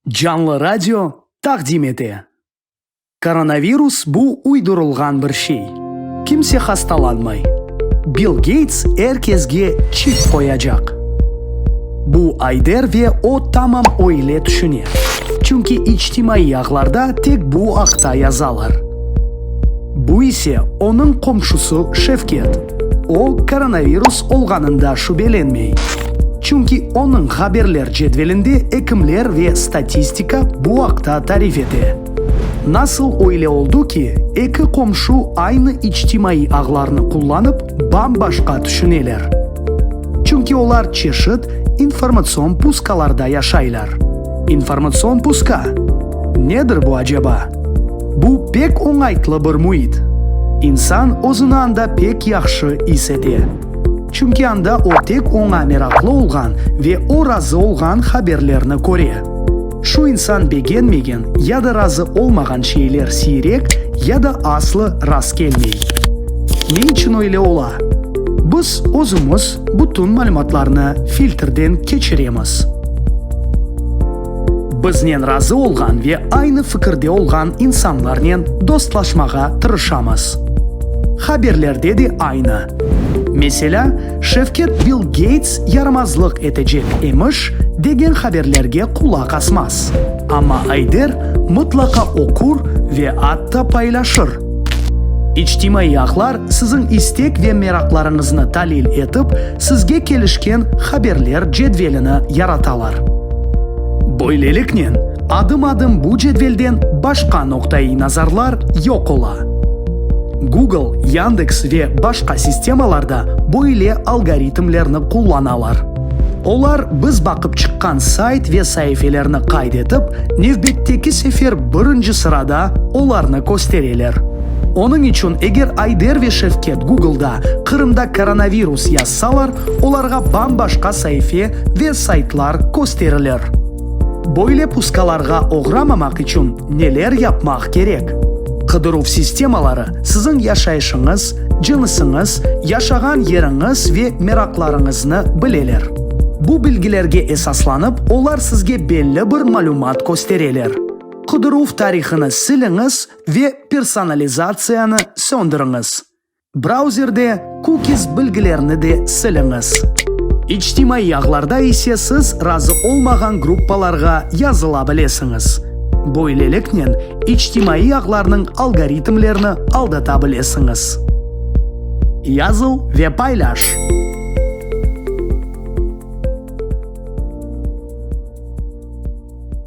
Canlı radio taqdim ete. Koronavirus bu uydurılğan bir şey. Kimse hastalanmay. Bill Geyts er kesge çip qoyacaq. Bu Ayder ve o tamam oyle tüşüne. Çünki içtimaiy ağlarda tek bu aqta yazalar. Bu ise onıñ qomşusı Şevket. O, koronavirus olğanında şübelenmey, çünki onıñ haberler cedvelinde ekimler ve statistika bu aqta tarif ete. Nasıl öyle oldu ki, eki qomşu aynı içtimaiy ağlarnı qullanıp, bam-başqa tüşüneler? Çünki olar çeşit informatsion puskalarda yaşaylar. İnformatsion puska? Nedir bu aceba? Bu pek oñaytlı bir müit. İnsan özüni anda pek yahşı is ete. Çünki anda o tek oña meraqlı olğan ve o razı olğan haberlerni köre. Şu insan begenmegen ya da razı olmağan şeyler siyrek ya da aslı rast kelmey. Ne içün öyle ola? Biz özümiz bütün malümatlarnı filtrden keçiremiz. Biznen razı olğan ve aynı fikirde olğan insanlarnen dostlaşmağa tırışamız. Haberlerde de aynı. Meselâ, Şevket Bill Geyts yaramazlıq etecek emiş, degen haberlerge qulaq asmaz. Amma Ayder mıtlaqa oqur ve atta paylaşır. İçtimaiy ağlar siziñ istek ve meraqlarıñıznı talil etip, sizge kelişken haberler cedvelini yaratalar. Böyleliknen, adım-adım bu cedvelden başqa noqta-i nazarlar yoq ola. Google, Yandeks ve başqa sistemalarda böyle algoritmlerni qullanalar. Olar biz baqıp çıqqan sayt ve saifelerni qayd etip, nevbetteki sefer birinci sırada olarnı köstereler. Onıñ içün eger Ayder ve Şevket Google'da Qırımda koronavirus yazsalar, olarğa bam-başqa saife ve saytlar kösterilir. Böyle pusqalarğa oğramamaq içün neler yapmaq kerek? Qıdıruv sistemaları Siziñ yaşayışıñız, cınsıñız, yaşağan yeriñiz ve meraqlarıñıznı bileler. Bu bilgilerge esaslanıp, olar sizge belli bir malümat köstereler. Qıdıruv tarihini siliñiz ve personalizatsiyanı söndiriñiz. Brauzerde. Cookies bilgilerini de siliñiz. İçtimaiy ağlarda ise siz razı olmağan gruppalarğa yazıla bilesiñiz. Böyleliknen, içtimaiy ağlarnıñ algoritmlerini aldata bilesiñiz. Yazıv ve paylaş.